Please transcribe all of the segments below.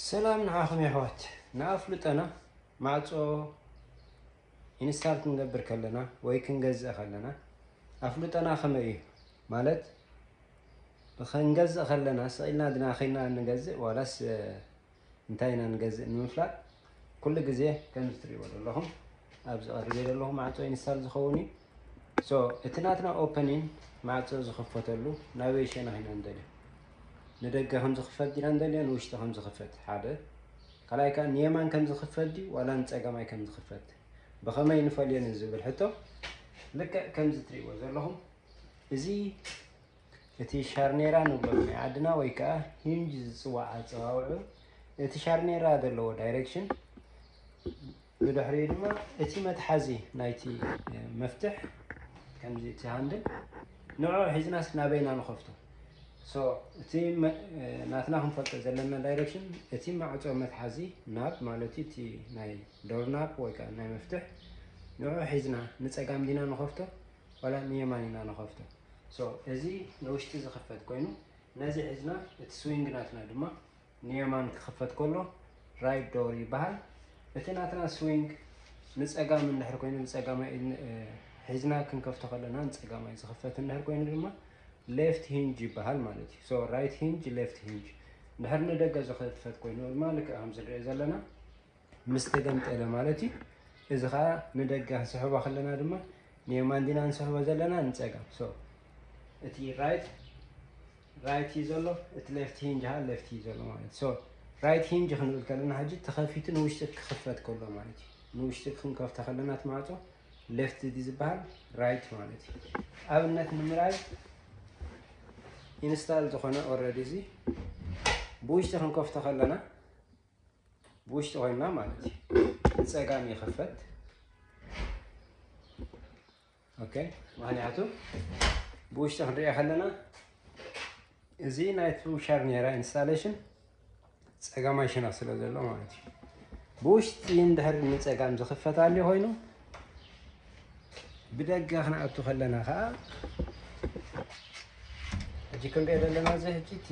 ሰላም ንዓኹም የሕዋት ንኣፍልጦና ማዕጾ ኢንስታል ክንገብር ከለና ወይ ክንገዝእ ከለና ኣፍልጦና ከመይ እዩ ማለት ክንገዝእ ከለና ስቂልና ድና ከይና ንገዝእ ዋላስ እንታይ ኢና ንገዝእ ንምፍላጥ ኩሉ ግዜ ከምዚ ትሪእዎ ዘለኹም ኣብዚ ቀሪበ ዘለኹ ማዕጾ ኢንስታል ዝኸውን እዩ So እቲ ናትና ኦፐኒን ማዕጾ ዝኽፈተሉ ናበይ ሸነኽ ኢና እንደልዮ? ንደገ ከም ዝኽፈት ዲና እንደልዮ ንውሽጢ ከም ዝኽፈት ሓደ ካልኣይ ከኣ ንየማን ከም ዝኽፈት ድዩ ዋላ ንጸገማይ ከም ዝኽፈት ብኸመይ ንፈልዮ ንዝብል ሕቶ ልክዕ ከምዚ ትርእይዎ ዘለኹም እዚ እቲ ሻርኔራ ንብሎ ናይ ዓድና ወይ ከኣ ሂንጅ ዝጽዋዕ ኣጸዋውዑ እቲ ሻርኔራ ዘለዎ ዳይሬክሽን ብድሕሪኡ ድማ እቲ መትሓዚ ናይቲ መፍትሕ ከምዚ እቲ ሃንድል ንዑ ሒዝናስ ናበይ ኢና ንኸፍቶ ሶ እቲ ናትና ክንፈልጦ ዘለና ዳይሬክሽን እቲ ማዕፆ መትሓዚ ናብ ማለት እዩ እቲ ናይ ዶርናፕ ወይ ከዓ ናይ መፍትሕ ንዑ ሒዝና ንፀጋም ዲና ንኸፍቶ ዋላ ንየማን ኢና ንኸፍቶ ሶ እዚ ንውሽጢ ዝኽፈት ኮይኑ ነዚ ሒዝና እቲ ስዊንግ ናትና ድማ ንየማን ክኽፈት ከሎ ራይት ዶር ይበሃል። እቲ ናትና ስዊንግ ንፀጋም እንድሕር ኮይኑ ብፀጋማይ ሒዝና ክንከፍቶ ከለና ንፀጋማይ ዝኽፈት እንድሕር ኮይኑ ድማ ሌፍት ሂንጅ ይበሃል ማለት እዩ። ሶ ራይት ሂንጅ ሌፍት ሂንጅ እንድሕር ንደገ ዝኽፈት ኮይኑ ድማ ልክዕ ከምዝንሪኦ ዘለና ምስ ተገምጠለ ማለት እዩ። እዚ ከዓ ንደገ ክንስሕቦ ከለና ድማ ንየማን ዲና ንስሕቦ ዘለና ንፀጋም ሶ እቲ ራይት ራይት እዩ ዘሎ እቲ ሌፍት ሂንጅ ሀ ሌፍት እዩ ዘሎ ማለት ሶ ራይት ሂንጅ ክንብል ከለና ሕጂ ተኸፊቱ ንውሽጢ ክኽፈት ከሎ ማለት እዩ ንውሽጢ ክንከፍተ ከለና እቲ ማዕፆ ሌፍት ዲ ዝበሃል ራይት ማለት እዩ ኣብነት ንምርኣይ ኢንስታል ዝኾነ ኦልሬዲ እዚ ብውሽጢ ክንከፍቶ ከለና ብውሽጢ ኮይና ማለት እዩ ንፀጋም ይኽፈት ኦኬ ምክንያቱ ብውሽጢ ክንሪኦ ከለና እዚ ናይ ትሩሻር ኔራ ኢንስታሌሽን ፀጋማይ ሽነኽ ስለ ዘሎ ማለት እዩ ብውሽጢ እንድሕር ንፀጋም ዝኽፈት ኣልዩ ኮይኑ ብደገ ክንኣቱ ከለና ከዓ ሕጂ ክንሪኦ ዘለና እዚ ሕጂ እቲ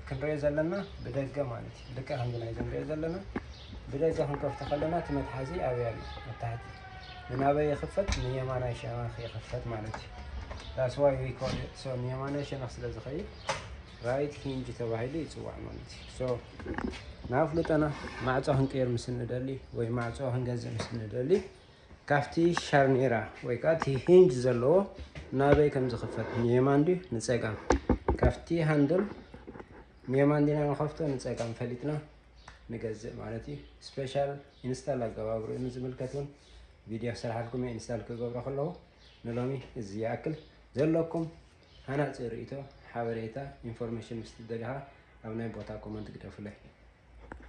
ክንሪኦ ዘለና ብደገ ማለት እዩ ልክዕ ከምዚ ናይዚ ንሪኦ ዘለና ብደገ ክንከፍቶ ከለና እቲ መትሓዚ ኣበይ ኣሎ ኣብ ታሕቲ ንናበይ ይኽፈት ንየማናይ ሸነኽ ይኽፈት ማለት እዩ ዳስዋይ ዊኮል ንየማናይ ሸነኽ ስለ ዝኸይድ ራይት ሂንጅ ተባሂሉ ይፅዋዕ ማለት እዩ። ሶ ንኣፍልጦና ማዕፆ ክንቅይር ምስ ንደሊ ወይ ማዕፆ ክንገዝእ ምስ ንደሊ ካብቲ ሻርኔራ ወይ ከዓ እቲ ሂንጅ ዘለዎ ናበይ ከም ዝኽፈት ንየማን ድዩ ንፀጋም ካብቲ ሃንድል ንየማን ዲና ንኸፍቶ ንፀጋም ፈሊጥና ንገዝእ ማለት እዩ። ስፔሻል ኢንስታል ኣገባብሩ እዩ ዝምልከት እውን ቪድዮ ክሰርሓልኩም ኢንስታል ክገብሮ ከለዎ ንሎሚ እዚ ይኣክል ዘለኩም ሃናጺ ርእይቶ፣ ሓበሬታ፣ ኢንፎርሜሽን ምስ ትደልኻ ኣብ ናይ ቦታ ኮመንት ግደፉለይ።